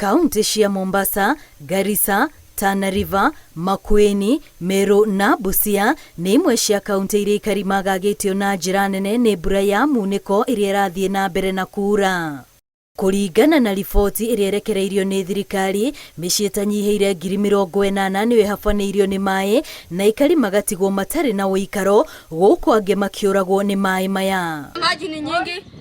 Kauntĩ cia Mombasa, Garissa, Tana River, Makueni, Meru na Busia nĩ imwe cia kauntĩ iria aikari magagĩtio na njĩra nene nĩ mbura ya munĩko ĩrĩa ĩrathiĩ na mbere na kuura. Kũringana na riboti ĩrĩa ĩrekereirio nĩ thirikari, mĩciĩ ĩtanyihĩire ngiri mĩrongo ĩnana nĩyo ĩhabanĩirio nĩ maĩ na aikari magatigwo matarĩ na ũikaro, gũkũ angĩ makĩũragwo nĩ maĩ maya. Maji ni nyingi.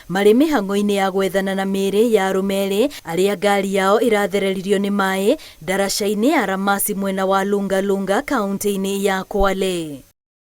Marĩ mĩhang'o-inĩ ya gwethana na mĩĩrĩ ya arũme erĩ arĩa ngari yao ĩrathereririo nĩ maĩ ndaraca-inĩ ya Ramasi mwena wa Lunga Lunga kauntĩ-inĩ ya Kwale.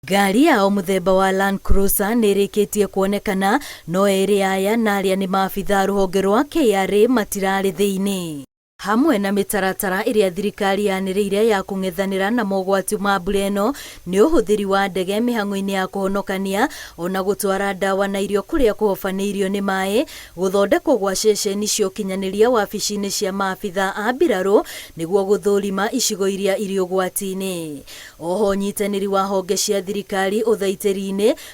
Ngari yao mũthemba wa Land Cruiser nĩĩrĩkĩtie kuonekana no erĩ aya na arĩa nĩ maabithaa rũhonge rwa KRA matirarĩ thĩinĩ. Hamwe na mĩtaratara ĩrĩa thirikari yanĩrĩire ya kũng'ethanĩra na mogwati ma mbura ĩno nĩ ũhũthĩri wa ndege mĩhang'o-inĩ ya kũhonokania, o na gũtwara ndawa na irio kũrĩa kũhobanĩirio nĩ maĩ, gũthondekwo gwa ceceni cia ũkinyanĩria wabici-inĩ cia maabitha a mbirarũ nĩguo gũthũrima icigo iria irĩ ũgwati-inĩ. O ho ũnyitanĩri wa honge cia thirikari ũthaitĩri-inĩ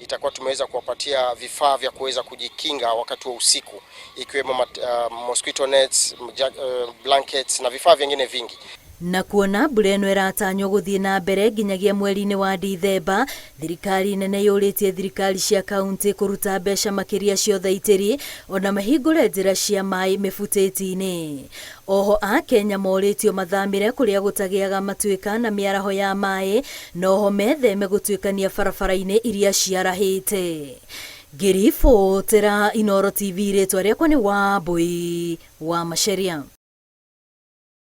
itakuwa tumeweza kuwapatia vifaa vya kuweza kujikinga wakati wa usiku ikiwemo uh, mosquito nets, uh, blankets na vifaa vingine vingi na kuona mbura ĩno ĩratanywo gũthiĩ na mbere nginyagia mweri-inĩ wa Dithemba, thirikari nene yũrĩtie thirikari cia kaunti kũruta mbeca makĩria ciothe itĩri ona mahingũre njĩra cia maĩ mĩbutĩti-inĩ. Oho a Kenya morĩtio mathamĩre kũrĩa gũtagĩaga matuĩka na mĩaraho ya maĩ na oho metheme gũtuĩkania barabara-inĩ iria ciarahĩte. Ngĩribotera Inooro TV rĩtwa rĩakwa nĩ Wambũi wa Macharia.